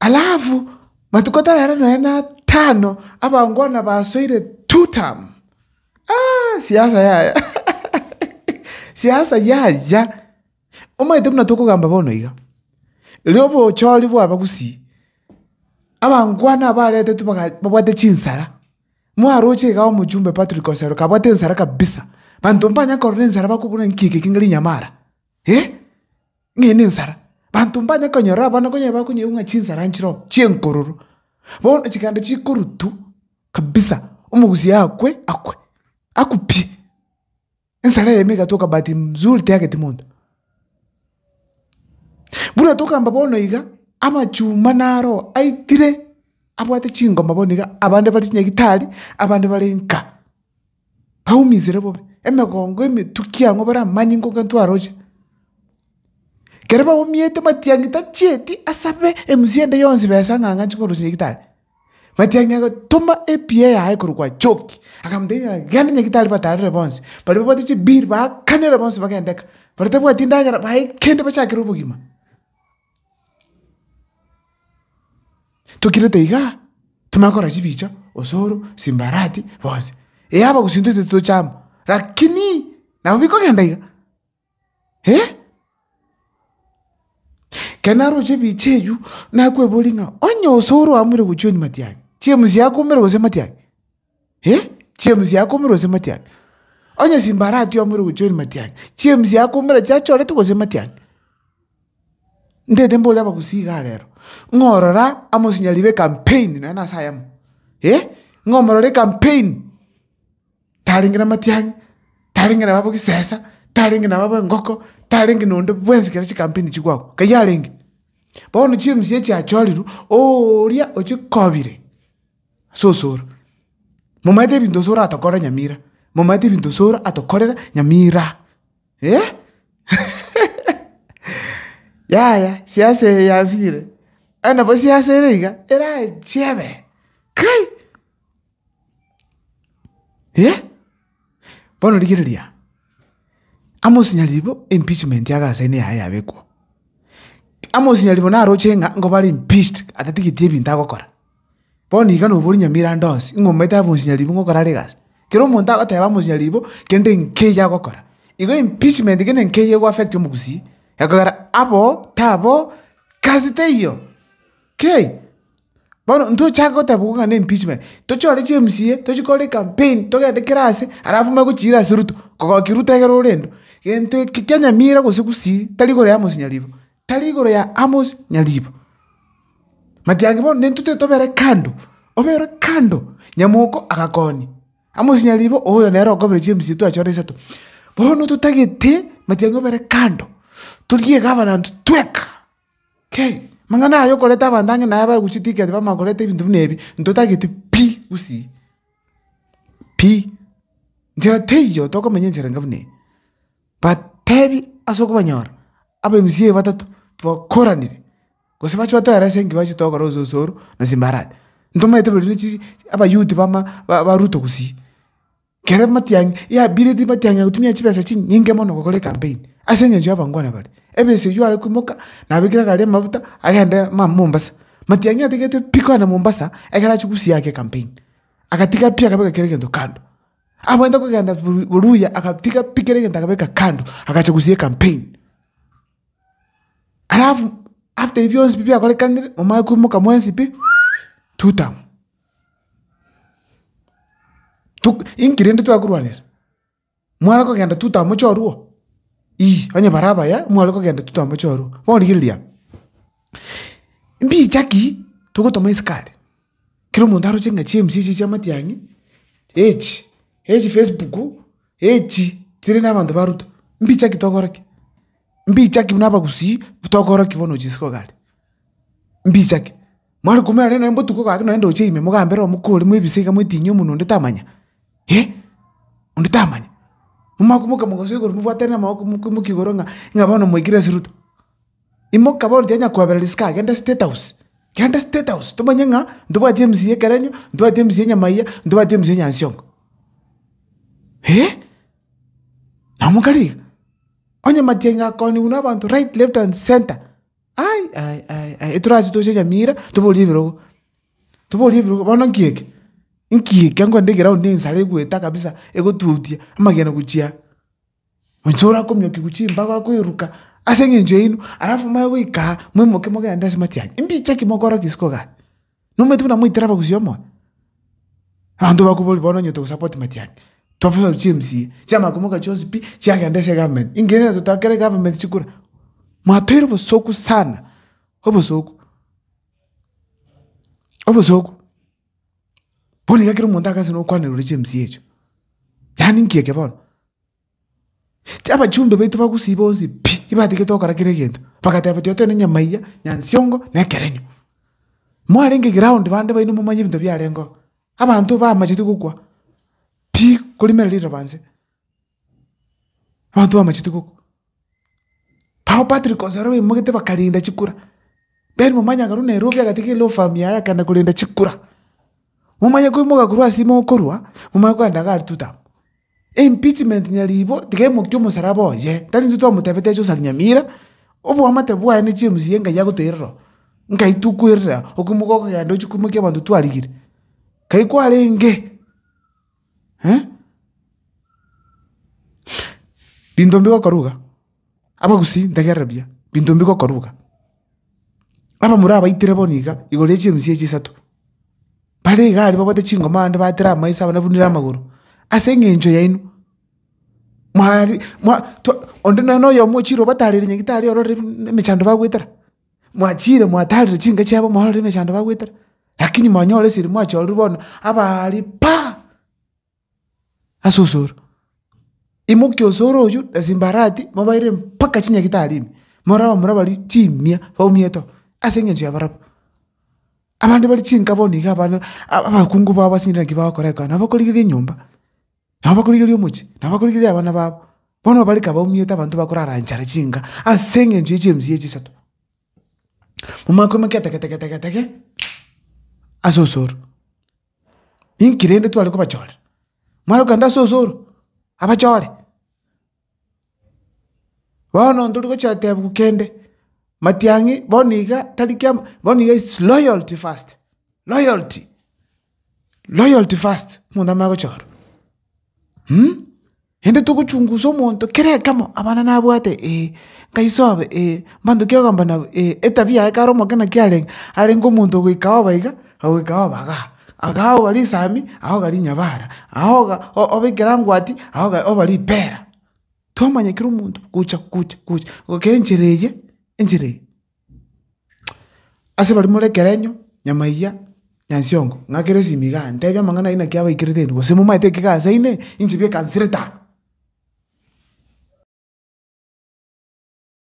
Alafu matuko tarero na atano abangwana basoire Tutam. Siasa yaya, siasa yaya! Omanyete buna tokogamba bono iga, erio obochori bwaba gusii, abangwana aba baretetwe babwate chinsara, mwaroche iga omochumbe Patrick Osero kabwate ensara kabisa, banto mbanya korora ensara bakobuna nki eke iga rinyamara? ng'a ere nensara. Banto mbanye konyora abana konya bakonyeigwa ng'a chinsara nchireo chi'enkororo. Bono chiganda chikorutwa kabisa, omogusi akwe, akwe, akwe pi! Ensara eyemo egatoka bahati mzuri teyageti monto. Buna tokamba bono iga, amachuma naro aitire abwate chingoma bono iga, abande bare chinyagitari, abande bare nka. baumisire bobe emegongo emetuki ang'o bare amanyinga ogento aroche. Kere baumiete matiang'i tachieti asabe emusie ende yonsi besa ng'a ng'anche korosia nyagetari. Matiang'i agatoma epiya yaye korwa kwa Choki, akamotebia ng'a genda nyagetari batarere bonsi, baria babwate chibiri baakanere bonsi bagende eka, baria batabwati endagera bae kende bachakere obogima. Tokirete iga tomanye gokora chibicha, osoro, simbarati, bonsi. Ee abagusii intwe titochama, lakini nabo bikogenda iga eh. Ekero naroche ebicha eywo, nakweboria ng'a onye osoro oamire gochia onywa matiang'i, chiemsii akoumera gose matiang'i. James yakumire gose matiang'i? Onye simba aratiamure gochia oria matiang'i, James yakumire chiachoretwe gose matiang'i? Ntaete mbore abagusii igaa rero, ng'a orora amo osinyari be campaign nonye na ase ayamo, ng'a omorore campaign, tarenge na matiang'i, tarenge nabo abwo gisesa, tarenge nabo abwo engoko, tarenge na onde bwensi ekero chicampaign chigwa agwo, nkayi arenge. Bono James echiachorirwe, oria ochikobire. ase osoro. Momaete ebinto osoro atokorere nyamira, momaete ebinto osoro atokorere nyamira eh yaya siasa eye yansinyire, aye nabo siasa ere iga erachebe kai eh. Bono rigereria, amo osinyaribo impeachment iga ase ene yaye yabekwa, amo osinyaribo naroche ng'a nkobare impeached atatigeti ebinto agokora. Bono iga nobori nyamerato onsi, ng'a omanyete abe omochinyaribwa ng'a okore are egasi. Kera omonto agoteba abe omochinyaribwa, kende nkeiyo agokora. Igo impeachment kende nkeiyo ego affect omogusii, ekogera aboo, taboo, gasi teiyo, kei. Bono ntochake gotebiwa ng'a na impeachment, tochore chi mca, tochi kore ecampaign, togende kera ase, alafu omanye gochiira ase ruto, kogokia ruto egere ore endo. Gento eke kia nyamira gose gusii, tari igoro ya mosinyaribwa, tari igoro ya amos nyaribwa. Matiangi bono nintwe tiri tobere kando, obe ore kando. Nyamoko agakoonia, amosinyarire ibo oyo nere okobera chibisio twachio ore isato. Bono totagete matiangi obere kando, torie iga abanto tweka. Kei, amang'ana aya okoreta abanto ang'e naye bagochia tiki ati bamanya koreta ebinto buna ebi, ntotagete pi gusii, pi. Nchera teiyo tokomenya enchera enga buna eye. But tebi ase okobanyora, aba MCA batato twakoranire. gose bache batoe arase enki bache togokora gose osoro na simbarati. Ntomaete bori ne chiri abayouth bama ba ba ruto gusii, kere matiang' yabire ti matiang'i agotumia chibesa chinyinge mono gokora ecampaign, ase eng'encho abangwana bare. Ebese eywo are koimoka, nabekire egari amabuta, agende ma mombasa. Matiang'i atagete pi kogenda mombasa, ekero achie gusii ake ecampaign, agatiga pi akabeka kera egento kando. Abwenerete kogenda buru boruya agatiga pi kera egento akabeka kando, agacha gusii ecampaign. Alafu after ebi bionsi pi biakorekanire, momanye koimoka mwensi pi, tutam. Tuk inki rende twakorwanera? Mware kogenda tutam mochorwa? Iyii, onye bare abaya, mware kogenda tutam mochorwa, bono rigereria aba. Mbicha ki togotoma isiko aria? Kera omonto aroche ng'a chiMC echi chia matiang'i, echi, echi Facebook, echi chire na abanto ba Ruto, mbiche ki tokora ki? Mbiche ki buna abagusii tokora ki bono chisiko iga aria? Mbiche ki? Mware koumera rende nonye botuko gaki nonye ndoche ime mogambe ere omokori mwebise iga mwetinyi omonwe onde tamanya, eh, onde tamanya. Momanye komoka mogoso igoro mobwatane amaboko moki moki igoro ng'a ng'a bono mwaikire ase Ruto. Imoka bono tiga nyakwabera risiko aa genda state house, genda state house tomanye ng'a ntobwati emcee y'ekerenyo, ntobwati emcee ya nyamaiga, ntobwati emcee ya nyansiongo. Hee! Na omokare iga, onye matiang'i akooniwa na abanto right, left and centre, ai ai ai ai torache toche nyamira toborie ebirogo, toborie ebirogo bono nki eke? Nki eke? Ango naende eground ensara egoeta kabisa egotutia amagena gochia aa. Onye orakomiokigwa chimbago akoiruka ase eng'encho yaino alafu moe goika aa moimoke mogende ase matiang'i, mbiche ki mokore risiiko iga iga? Nomanyete buna moitire abagusi omoyo? Abanto bakoboria bono onye togosupport matiang'i, twabosaru chia emcaa, chia magomoka chionsi pi chiagenda ase egovernment, inki rende totakera egovernment chikura? Mwatoire obosoku sana, obosoku, obosoku. Bono iga kera omonto agasana okwanera ore chemsie echio, yaani nki eke bono? Ti abachumbe baito bagusii bonsi pi, ibatigete gokora kera egento, bagateba tiga togende nyama eyio, nyansiongo, na ekerenyo. Mwarenge ground bande baino momanye ebinto biarenge oo. Abanto bamacheti gokwa pi, korimerera riroba nse. Abanto bamachete gokwa. Papa Patrick Onsaro baimoete bakarinda chikura. Ben Momanya akarwa Nairobi agatiga elaw firm yaye akaenda korenda chikura. Momanya koimoka korwa ase ime okorwa, momanya kogenda iga aria totama. Impeachment nyaribo tiga emokia omosaraba oye, tari intwe twamotebete ache gosari Nyamira, oboamate bwaye ne James ye Ngai agoterera oo. Nkai tokwerera, okoimoka okogenda ochia koimokia abanto twarigire. Nkai kwarenge. binto mbigokora iga, abagusii ntegerera buya, binto mbigokora iga, aba murabaitire bono iga igoro ya chiemisi echi isato, bare iga aria babwate chingoma ande batire amaiso abana bunire amagoro, ase eng'encho yaino, mwari mwa twa onde noyomo ochire obatarire nyagitari ororire buna emechando bagoetera. Mwachiire mwataarire chinka chiabo morore emechando bagwetera, lakini mwanyora esiri mwachorerwe bono abaari pa ase osoro. Imokia osoro oyio na simbarati mobaire mpaka chinyagitari ime, morore abamura abaria chimia baumiete oo ase eng'encho ya barabwo. Abande bare chinka bono iga abana abakungu babo ase naki bagokora ekero nabo okorigereria enyomba. nabakorigereria omochie, nabakorigereria abana babo, bono obareke abaumiete abanto bakorara nchara chinka ase eng'encho ye chiemisi echi isato. Momanye koimokia etegetegetegete ase osoro. Inki rende tware kobachorera? Mware kogenda ase osoro, abachore. Bono ntori gochia goteba kende, matiang'i bono iga tari kia bono iga it's loyalty first, loyalty, loyalty first omonto amanye gochia ororo. Rende togochungusa omonto kera ekemo abana nabwate eh, nkaisobe eh, mbantoki ogomba nabo eh, etabia yaye kare omokina kiarenge, arenge omonto goika oba iga. agwo ekaba obaga, agao oba risami, agao oba rinyabara, agao oga obe ekerangwati, agao oga oba ripera, twamanya kera omonto gocha gocha gocha ekero enchera eye enchera eye. Ase baria more ekerenyo, nyamaiga, nyansiongo, ng'akere esimi igaa ntebia amang'ana ayio naki abaikerete eira gose momaete ekiga ase ime, inche biekansereta.